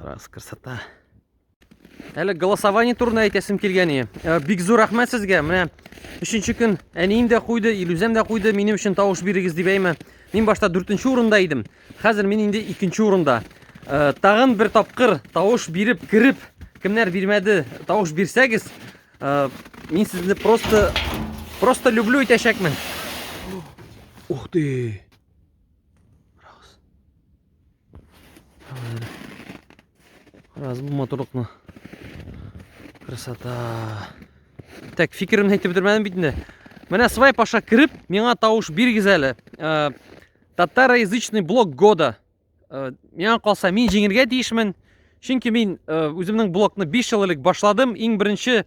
Раз, красота. Әле голосование турында әйтәсем килгән иде. Э, бик зур рәхмәт сезгә. Менә өченче көн әнием дә куйды, Илүзәм дә куйды. Минем өчен тавыш бирегез дип әйме. Мин башта 4нче урында идем. Хәзер мин инде 2нче урында. Э, тагын бер тапкыр тавыш биреп, кереп, кемнәр бирмәде, тавыш бирсәгез, э, мин сезне просто просто люблю итәчәкмен. Ух ты! Раз бу матурлыкны. Красота. Так, фикеремне әйтеп бетермәдем бит инде. Менә свай паша кереп, миңа тавыш бирегез әле. Э, татароязычный блок года. Э, миңа калса, мин җиңергә тиешмен. Чөнки мин э, үземнең блокны 5 ел элек башладым. Иң беренче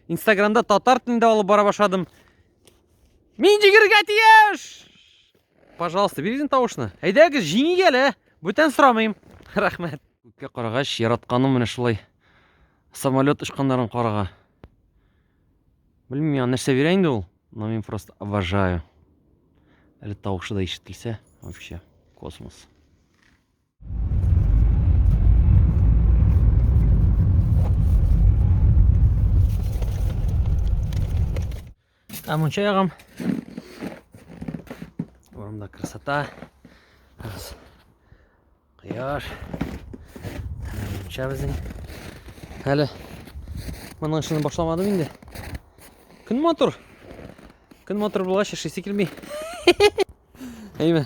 Инстаграмда татар телендә алып бара башладым. Мин җиңергә тиеш! Пожалуйста, бирегез тавышны. Әйдәгез, җиңик әле. Бүтән сорамыйм. Рәхмәт. Күккә карагач, яратканым менә шулай. Самолет очканнарын карага. Белмим, миңа нәрсә бирә инде ул, но мин просто обожаю. Әле тавышы да ишетелсә, вообще космос. Там учером. Вон да красота. Раз. Кыяш. Мунча безнең. Әле моның эшен башламадым инде. Көн мотор. Көн мотор булгач эшлисе килми. Әйме.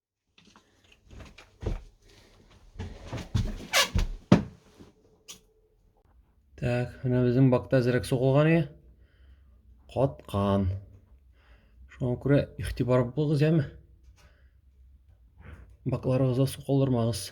Так, менә безнең бакта әзрәк сугылган ие. Каткан. Шуңа күрә игътибар булыгыз, яме. Бакларыгызга су калдырмагыз.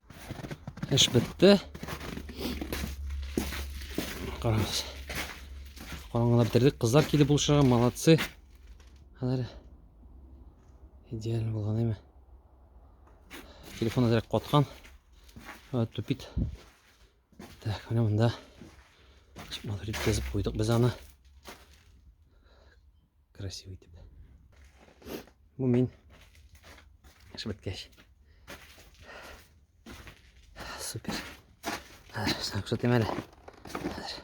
Эш бетте. Караңыз. Караңгыда бетердек. Кызлар килеп булышырга, молодцы. Хәзер идеально булган әйме. Телефон әзрәк каткан. Тупит. Так, менә монда чыкматыр итеп язып куйдык без аны. Красивый итеп. Бу мин эш беткәч. Супер. Хәзер саң күрсәтим әле. Хәзер.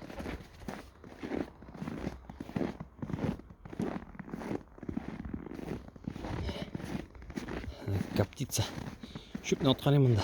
Коптица. Чүпне аткалыйм монда.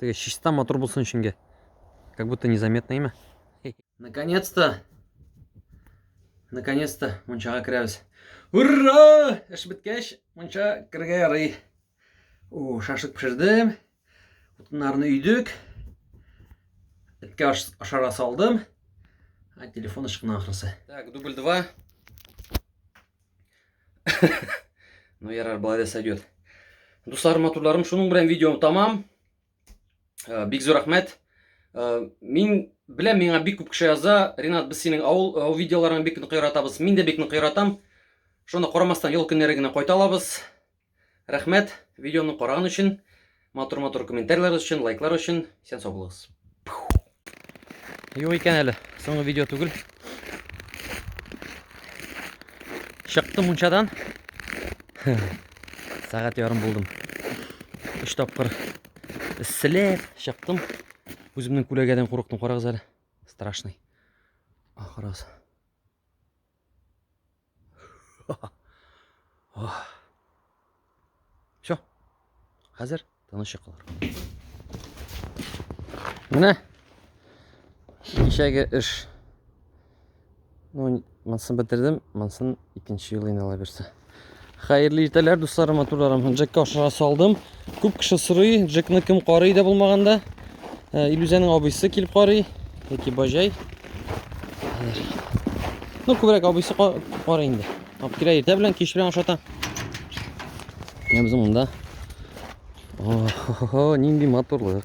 Теге чиста матур булсын өченге. Как будто незаметно имя. Наконец-то! Наконец-то мунчага керәбез. Ура! Эш беткәч, мунча кергә ярый. О, шашлык пешердем. Утыннарны өйдек. Эткә ашара салдым. А телефон ышкына ахрысы. Так, дубль 2. Ну, ярар, былай да сойдет. Дуслар, матурларым, шуның белән видеом тамам. Э, бик зур рәхмәт. Э, мин беләм, миңа бик күп кеше яза, Ренат, без синең авыл э, видеоларың бик нык яратабыз. Мин дә бик нык яратам. Шуны карамастан ел көннәре генә кайта алабыз. Рәхмәт видеоны караган өчен, матур-матур комментарийлар өчен, лайклар өчен. Исән сау булыгыз. Юк икән әле, соңгы видео түгел. Чыктым мунчадан. Сәгать ярым булдым. Өч тапкыр селәп чыктым. Үземнең күләгәдән курыктым, карагыз әле. Страшный. Ахырасы. Все. Хәзер тыныч йокылар. Менә кичәге эш. Ну, монсын бетердем, монсын икенче ел инала бирсә. Хәерле иртәләр, дусларым, матурларым. Джекка ашыра салдым. Күп кеше сорый, Джекны кем карый да булмаганда. Э, Илүзәнең абыйсы килеп карый, яки бажай. Ну, күбрәк абыйсы карый инде. Алып килә иртә белән, кич белән ашата. Менә без монда. О, нинди матурлык.